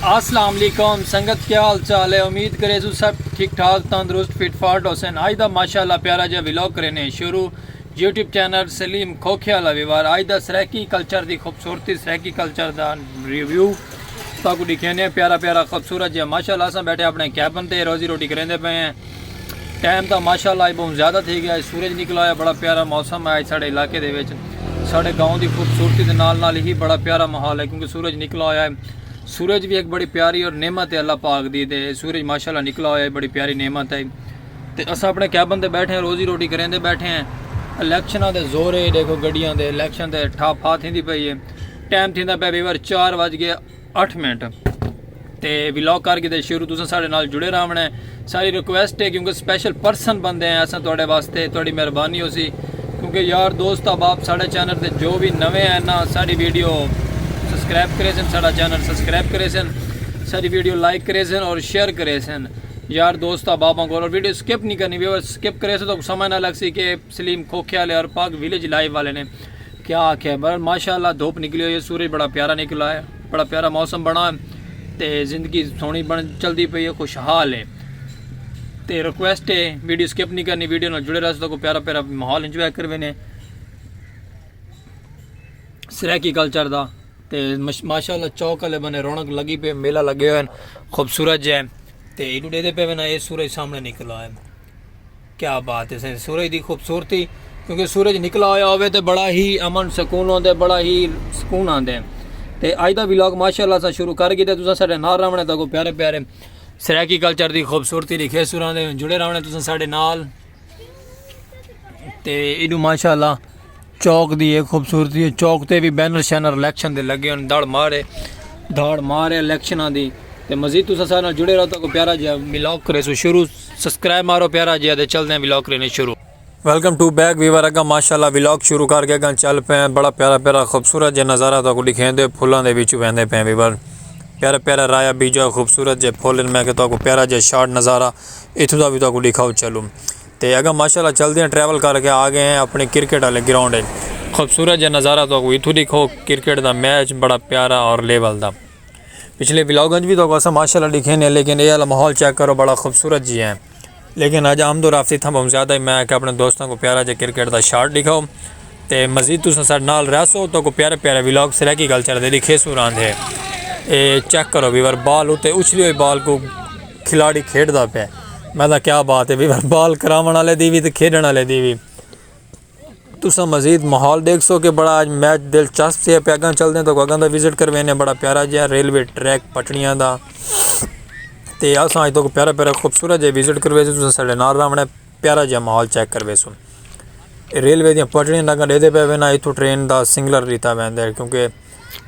اسلام علیکم سنگت کیا حال چال ہے امید کرے سو سب ٹھیک ٹھاک تندرست فٹ فاٹ حسین آج دا ماشاءاللہ پیارا جا ویلوگ کرینے شروع یوٹیوب چینل سلیم کھوکھے والا ویوار آج دا سرائیکی کلچر دی خوبصورتی سرائیکی کلچر دا ریویو تاکو دکھینے پیارا پیارا خوبصورت جا ماشاءاللہ اساں بیٹھے اپنے کیبن تے روزی روٹی کریندے پے ہیں ٹائم تاں ماشاءاللہ اج بہوں زیادہ تھے گیا اج سورج نکلا ہویا بڑا پیارا موسم ہے اج ساڑے علاقے دے وچ ساڑے گاؤں دی خوبصورتی دے نال نال ہی بڑا پیارا ماحول ہے کیونکہ سورج نکلا ہویا ہے سورج بھی ایک بڑی پیاری اور نعمت ہے اللہ پاک دی تے سورج ماشاءاللہ نکلا ہویا ہے بڑی پیاری نعمت ہے تے اساں اپنے کیبن تے بیٹھے ہیں روزی روٹی کریں دے بیٹھے ہیں الیکشناں دے زور ہے دیکھو گڈیاں دے الیکشن دے ٹھا پھا تھیندی پئی ہے ٹائم تھیندا پیا ویور چار وج گئے اٹھ منٹ تے ولاگ کر کے شروع تساں سارے نال جڑے رہنا ہے ساری ریکویسٹ ہے کیونکہ سپیشل پرسن بندے ہیں اساں تواڈے واسطے تواڈی مہربانی ہو سی کیونکہ یار دوست اب آپ سارے چینل تے جو بھی نویں ہیں نا ساری ویڈیو سبسکرائب کرے سن سارا چینل سبسکرائب کرے سن ساری ویڈیو لائک کرے سن اور شیئر کرے سن یار دوست اب آپ اور ویڈیو سکپ نہیں کرنی ویور سکپ کرے سن تو سمجھ نہ لگ سی کہ سلیم کھوکھے والے اور پاک ویلیج لائیو والے نے کیا آکھے بہرحال ماشاءاللہ دھوپ نکلی ہوئی ہے سورج بڑا پیارا نکلا ہے بڑا پیارا موسم بنا ہے تے زندگی سونی بن چلدی پئی ہے خوشحال ہے تے ریکویسٹ ہے ویڈیو سکپ نہیں کرنی ویڈیو نال جڑے رہسو تاکو پیارا پیارا ماحول انجوائے کر وینے سرائیکی کلچر دا تے ماشاءاللہ چوک والے بنے رونق لگی پے میلہ لگے ہوئے خوبصورت جے تے ایڈو ڈے دے پے وینا اے سورج سامنے نکلا ہے کیا بات ہے سائیں سورج دی خوبصورتی کیونکہ سورج نکلا ہویا ہوئے تے بڑا ہی امن سکون ہوندے بڑا ہی سکون آندے تے آج دا ویلاگ ماشاءاللہ سا شروع کر گی تے تساں ساڈے نال راونے تاکو پیارے پیارے سرائیکی کلچر دی خوبصورتی دی کھے سوراں دے جڑے راونے تساں ساڈے نال تے ایڈو ماشاءاللہ چوک دی اے خوبصورتی ہے چوک تے وی بینر شینر الیکشن دے لگے ہن دھڑ مار ہے دھڑ مار ہے الیکشناں دی تے مزید تساں سارے نال جڑے رہو تاکو پیارا جیا ولاگ کرے سو شروع سبسکرائب مارو پیارا جیا تے چلدے ہیں ولاگ کرنے شروع ویلکم ٹو بیک ویور اگا ماشاءاللہ ولاگ شروع کر کے اگا چل پے ہیں بڑا پیارا پیارا خوبصورت جے نظارہ تاکو دکھیں دے پھلاں دے وچوں ویندے پے ہیں ویور پیارا پیارا رایا بیجا خوبصورت جے پھول میں کہ تاکو پیارا جے شارٹ نظارہ اتھوں دا بھی تاکو دکھاؤ چلوں تے اگاں ماشاءاللہ چلدیاں ٹریول کر کے آ گئے ہیں اپنڑے کرکٹ آلے گراؤنڈ اچ۔ خوبصورت جا نظارہ تہاکوں ایتھوں ڈکھو کرکٹ دا میچ بڑا پیارا اور لیول دا پچھلے ولاگ انچ وی تہاکوں اساں ماشاءاللہ ڈکھینے ہیں لیکن اے آلا ماحول چیک کرو بڑا خوبصورت جی ہیں لیکن اج آمد و رفت اتھاں بہوں زیادہ ہے میں آکھیا اپنڑے دوستاں کوں پیارا جا کرکٹ دا شاٹ ڈکھاؤ تے مزید تساں ساڈے نال رہسو تہاکوں پیارے پیارے ولاگ سرائیکی کلچر دے ڈکھیسوں راندھے اے چیک کرو ویور بال اتے اچھلی ہوئی بال کوں کھلاڑی کھیڈدا پیا ہے میں دا کیا بات ہے بھائی بال کراون والے دی وی تے کھیڈن والے دی وی تسا مزید ماحول دیکھ سو کہ بڑا اج میچ دلچسپ سے پہ اگاں چلدے تو اگاں دا وزٹ کروینے بڑا پیارا جہا ریلوے ٹریک پٹڑیاں دا تے اساں اج تو پیارا پیارا خوبصورت جہا وزٹ کروے تسا ساڈے نال راونے پیارا جیہا ماحول چیک کرویسوں ریلوے دیاں پٹڑیاں تکاں ڈیدھے پے وینا اتھوں ٹرین دا سنگلر ڈیتا ویندا ہے کیونکہ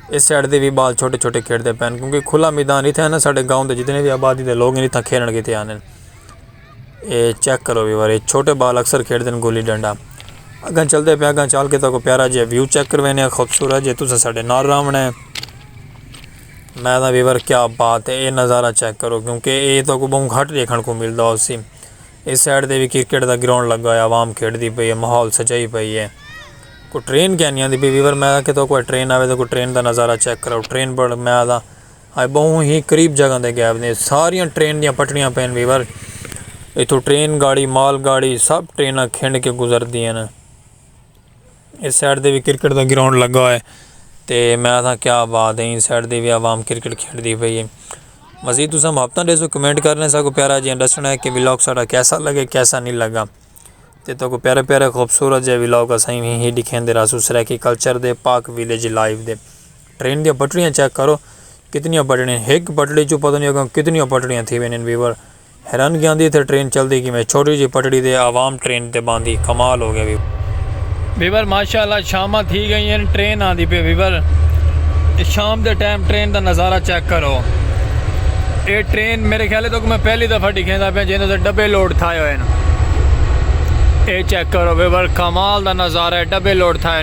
اس سائڈ دے بھی بال چھوٹے چھوٹے کھیڈتے پے ہیں کیونکہ کھلا میدان اتھے ہیں نا ساڈے گاؤں دے جتنے بھی آبادی دے لوگ ہیں اتھاں کھیلݨ کیتے آندے ہیں اے چیک کرو وی وارے چھوٹے بال اکثر کھیڈتے ہیں گلی ڈنڈا اگاں چلتے پے اگاں چل کے تاکو پیارا جیہا ویو چیک کروینے ہیں خوبصورت جے تساں ساڈے نال راوݨ ہیں میں دا ویور کیا بات ہے اے نظارہ چیک کرو کیونکہ اے تاکو بہوں گھٹ دیکھݨ کو ملدا ہو سی اس سائیڈ تے وی کرکٹ دا گراؤنڈ لگا ہویا عوام کھیڈ دی پئی ہے ماحول سجائی پئی ہے کوئی ٹرین کیا نہیں آتی پئی ویور میں کہ تو کوئی ٹرین آوے تو کوئی ٹرین دا نظارہ چیک کرو ٹرین پر میں آتا آئے بہوں ہی قریب جگہ دے گیپ دے ساریاں ٹرین دیاں پٹڑیاں پین ویور اتھو ٹرین گاڑی مال گاڑی سب ٹریناں کھنڈ کے گزر دیاں نا اس سائڈ دے وی کرکٹ دا گراؤنڈ لگا ہوئے تے میں آساں کیا بات ہے اس سائڈ دے وی عوام کرکٹ کھیڈ دی پئی ہے مزید تساں محبتاں دے سو کمنٹ کرنے سا کو پیارا جیاں ڈسنا ہے کہ ولاگ ساڈا کیسا لگے کیسا نہیں لگا تے تو کو پیارے پیارے خوبصورت جے ولاگ اساں ہی دکھیں دے راسو سرائیکی کلچر دے پاک ویلیج لائیو دے ٹرین دیا پٹڑیاں چیک کرو کتنی پٹڑیاں ایک پٹڑی چو پتہ نہیں ہوگا کتنی پٹڑیاں تھی وینن ویور حیرانگی آندی اتھے ٹرین چلدی کیویں چھوٹی جی پٹڑی دے عوام ٹرین تے باندھی کمال ہو گیا وی۔ ویور ماشاء اللہ شاماں تھی گئیں ہن ٹرین آندی پئی ویور شام دے ٹائم ٹرین دا نظارہ چیک کرو اے ٹرین میرے خیال تک میں پہلی دفعہ ڈکھیندا پیا جیندے تے ڈبے لوڈ تھائے ہوئے ہن اے چیک کرو ویور کمال دا نظارہ ہے ڈبے لوڈ تھائے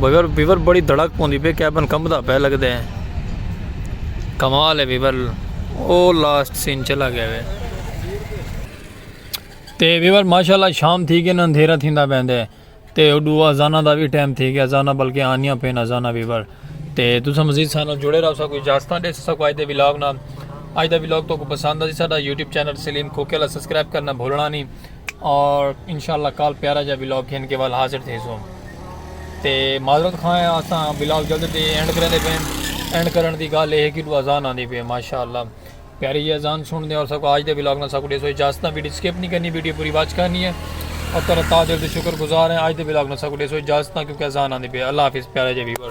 بیور بیور بڑی دھڑک پوندی پہ کیبن کمبدا پہ لگدا ہے کمال ہے بیور او لاسٹ سین چلا گیا ہے تے بیور ماشاءاللہ شام تھی گئی نا اندھیرا تھیندا پیندے ہے تے اڈو ازانہ دا بھی ٹائم تھی گیا ازانہ بلکہ آنیاں پین ازانہ بیور تے تسا مزید سانو جڑے رہو سا کوئی اجازتاں دے سا کوئی دے ولاگ نا اج دا ولاگ تو کو پسند ہے ساڈا یوٹیوب چینل سلیم کھوکے والا سبسکرائب کرنا بھولنا نہیں اور انشاءاللہ کال پیارا جا بلاگ کھین کے وال حاضر تھے سو تے معذرت خواہ ہیں آساں بلاگ جلد دے اینڈ کریں دے پین اینڈ کرن دی گال لے ہے کہ دو ازان آن دی پین ماشاءاللہ پیاری جی ازان سن دے اور سب کو آج دے بلاگ نا سب کو دے سو اجازتہ ویڈیو سکیپ نہیں کرنی ویڈیو پوری واچ کرنی ہے اور ترہ تاجر دے شکر گزار ہیں آج دے بلاگ نا سب کو دے سو اجازتہ کیونکہ ازان آن دی پین اللہ حافظ پیارا جا ویور